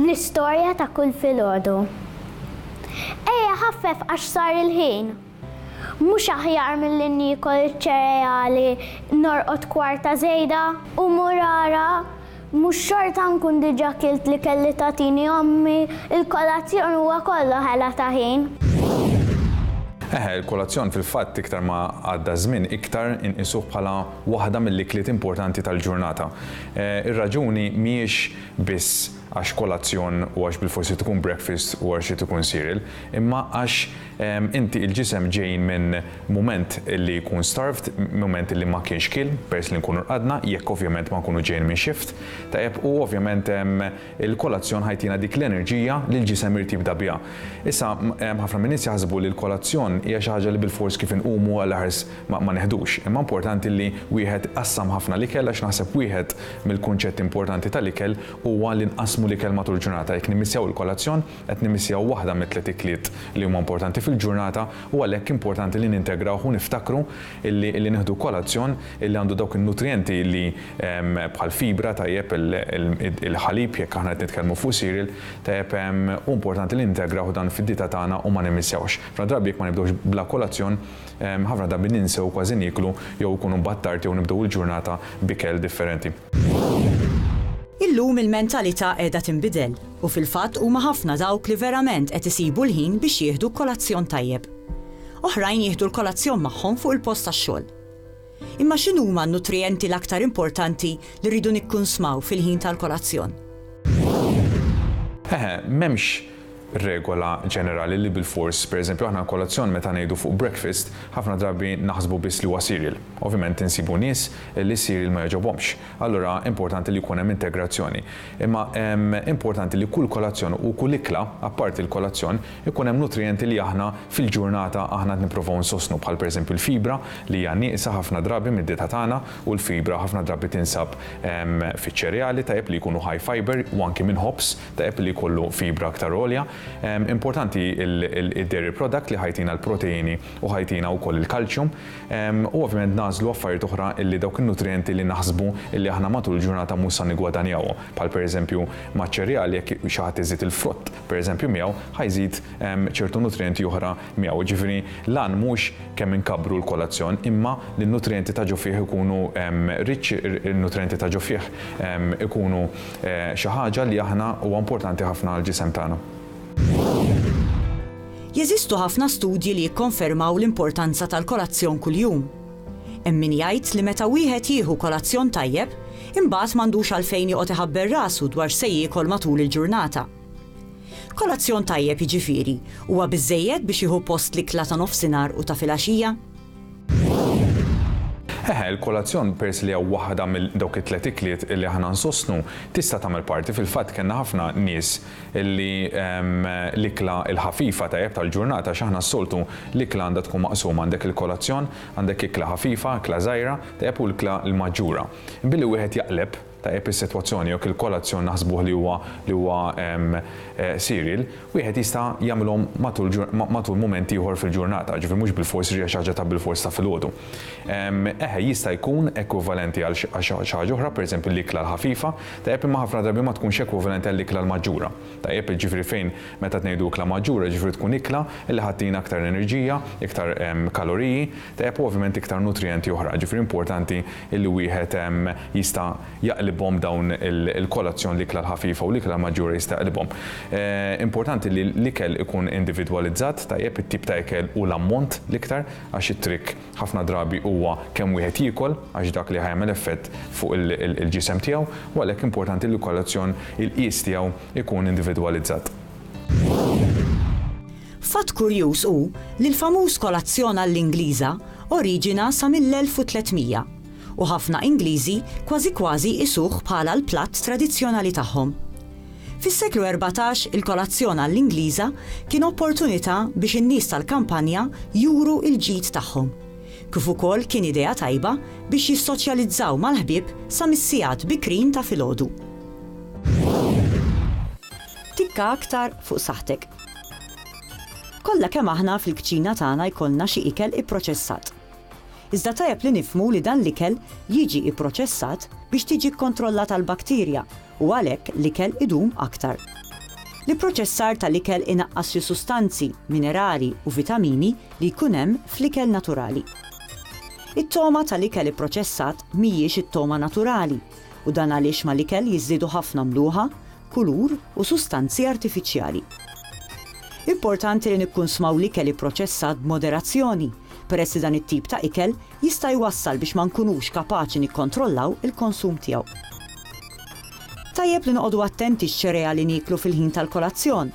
L-istorja ta' kull filgħodu. Ejja ħaffef għax sar il-ħin! Mhux aħjar milli niekol iċ-ċereali norqod kwarta żejda? U murara, mhux xorta nkun diġà kilt l-ikel li tagħtini ommi, il-kolazzjon huwa kollu ħela ta' ħin. Eħe, il-kolazzjon fil-fatt iktar ma għadda ż-żmien iktar inqisuh bħala waħda mill-ikliet importanti tal-ġurnata. Ir-raġuni mhijiex biss għax kolazzjon u għax bilfors irid ikun breakfast u għax irid ikun cereal, imma għax inti il-ġisem ġej minn mument li jkun starved, mument li ma kienx kiel, peress li nkunu rqadna, jekk ovvjament ma nkunu ġejjin minn shift, tajjeb, u ovvjament hemm Il-kolazzjon ħajtina dik l-enerġija li l-ġisem irid jibda biha. Issa, hemm ħafna min-nies jaħsbu li l-kolazzjon hija xi ħaġa li bilfors kif inqumu għall-aħars ma ma neħdux. Imma importanti li wieħed iqassam ħafna l-ikel għax naħseb wieħed mill-kunċetti importanti tal-ikel huwa li nqassmu l-ikel matul il-ġurnata. Jekk nimmissjaw il-kolazzjon, qed nimmissjaw waħda mit-tliet ikliet li huma importanti fil-ġurnata u għalhekk importanti li nintegrawh u niftakru illi illi nieħdu kolazzjon illi għandu dawk in-nutrijenti illi ehm, bħal fibra tajjeb il-ħalib jekk aħna qed nitkellmu fuq cereal tajjeb ehm, u importanti li nintegrawh dan fid-dieta tagħna u ma nimmissjawhx. Ħafna drabi jekk ma nibdewx bla kolazzjon ehm, ħafna drabi ninsew kważi nieklu jew ikunu battarti jew nibdew il-ġurnata b'ikel differenti. Illum il-mentalità qiegħda tinbidel u fil-fatt huma ħafna dawk li verament qed isibu l-ħin biex jieħdu kolazzjon tajjeb. Oħrajn jieħdu l-kolazzjon magħhom fuq il-post tax-xogħol. Imma x'inhuma n-nutrijenti l-aktar importanti li rridu nikkunsmaw fil-ħin tal-kolazzjon? Eħe, m'hemmx regola ġenerali li bilfors, pereżempju aħna kolazzjon meta ngħidu fuq breakfast, ħafna drabi naħsbu biss li huwa cereal. Ovvjament insibu nies li s-cereal ma jogħġobhomx. Allura importanti li jkun hemm integrazzjoni. Imma importanti li kull kolazzjon u kull ikla, apparti l-kolazzjon, ikun hemm nutrijenti li aħna fil-ġurnata aħna qed nipprovaw insostnu bħal pereżempju l-fibra li hija nieqsa ħafna drabi mid-dieta tagħna u l-fibra ħafna drabi tinsab fiċ-ċereali tajjeb li jkunu high fibre u anki minn ħobż tajjeb li jkollu fibra aktar għolja. Importanti id-dairy product li ħa jtina l-proteini u ħa jtina wkoll il-kalċjum. U ovvjament nagħżlu affarijiet oħra li dawk in-nutrijenti li naħsbu li aħna matul il-ġurnata mhux sa niggwadanjawhom. Bħal pereżempju maċ-ċereali jekk xi ħadd iżid il-frott pereżempju miegħu ħa jżid ċertu nutrijenti oħra miegħu. Jiġifieri l-għan mhux kemm inkabbru l-kolazzjon imma li n-nutrijenti ta' ġo fih ikunu rich, in-nutrijenti ta' ġo fih ikunu Xi ħaġa li aħna huwa importanti ħafna għall-ġisem tagħna. Jeżistu ħafna studji li jikkonfermaw l-importanza tal-kolazzjon kuljum. Hemm min jgħid li meta wieħed jieħu kolazzjon tajjeb, imbagħad m'għandux għalfejn joqgħod iħabber rasu dwar x'se jiekol matul il-ġurnata. Kolazzjon tajjeb jiġifieri huwa biżżejjed biex jieħu post l-ikla ta' nofsinhar u ta' filgħaxija? Eħe, il-kolazzjon, peress li hija waħda mill dawk it-tliet ikliet li aħna nsostnu, tista' tagħmel parti, fil-fatt kellna ħafna nies li l-ikla l-ħafifa tajjeb tal-ġurnata għax aħna s-soltu l-ikla għandha tkun maqsuma, għandek il-kolazzjon, għandek ikla ħafifa, ikla żgħira, tajjeb u l-ikla l-maġġura. Billi wieħed jaqleb, tajjeb is-sitwazzjoni jew kilkolazzjon naħsbuh li huwa li huwa serial, wieħed jista' jagħmilhom matul matul mument ieħor fil-ġurnata, ġifieri mhux bilfors iġi xi ħaġa ta' bilfors ta' filgħodu. Eħe, jista' jkun ekwivalenti għal xi ħaġa oħra, pereżempju l-ikla l-ħafifa, tajjeb imma ħafna drabi ma tkunx ekwivalenti għall-ikla l-maġġura. Tajjeb, jiġifieri fejn meta qed ngħidu ikla maġġura jiġifieri tkun ikla li ħa ttina aktar enerġija, iktar kaloriji, tajjeb, u ovvjament iktar nutrijenti oħra. Jiġifieri importanti li wieħed jista' jaqlibhom dawn il-kolazzjon, l-ikla l-ħafifa u l-ikla l-maġġura jista' jaqlibhom. Importanti li l-ikel ikun individwalizzat, tajjeb, it-tip ta' ikel u l-ammont l-iktar għax it-trick, Ħafna drabi huwa kemm wieħed jiekol għax dak li ħa jagħmel effett fuq il-ġisem tiegħu u għalhekk importanti li l-kolazzjon, il-qies tiegħu jkun individwalizzat. Fatt kurjuż hu li l-famuż kolazzjon għall-Ingliża oriġina sa mill-1300 u ħafna Ingliżi kważi kważi jqisuh bħala l-platt tradizzjonali tagħhom. Fis-seklu erbatax il-kolazzjon għall-Ingliża kien opportunità biex in-nies tal-kampanja juru l-ġid tagħhom. Kif ukoll kien idea tajba biex jissoċjalizzaw mal-ħbieb sa mis-sigħat bikrin ta' filgħodu. Tikka aktar fuq saħħtek. Kollha kemm aħna fil-kċina tagħna jkollna xi ikel ipproċessat. Iżda tajjeb li nifhmu li dan l-ikel jiġi pproċessat biex tiġi kkontrollata l-bakterja u għalhekk l-ikel idum aktar. L-ipproċessar tal-ikel inaqqas xi sustanzi, minerali u vitamini li jkun hemm fl-ikel naturali. It-togħma tal-ikel ipproċessat mhijiex it-togħma naturali u dan għaliex mal-ikel jiżdiedu ħafna mluħa, kulur u sustanzi artifiċjali. Importanti li nikkunsmaw l-ikel ipproċessat b'moderazzjoni, peress li dan it-tip ta' ikel jista' jwassal biex ma nkunux kapaċi nikkontrollaw il-konsum tiegħu. Tajjeb li noqogħdu attenti x-ċereali nieklu fil-ħin tal-kolazzjon,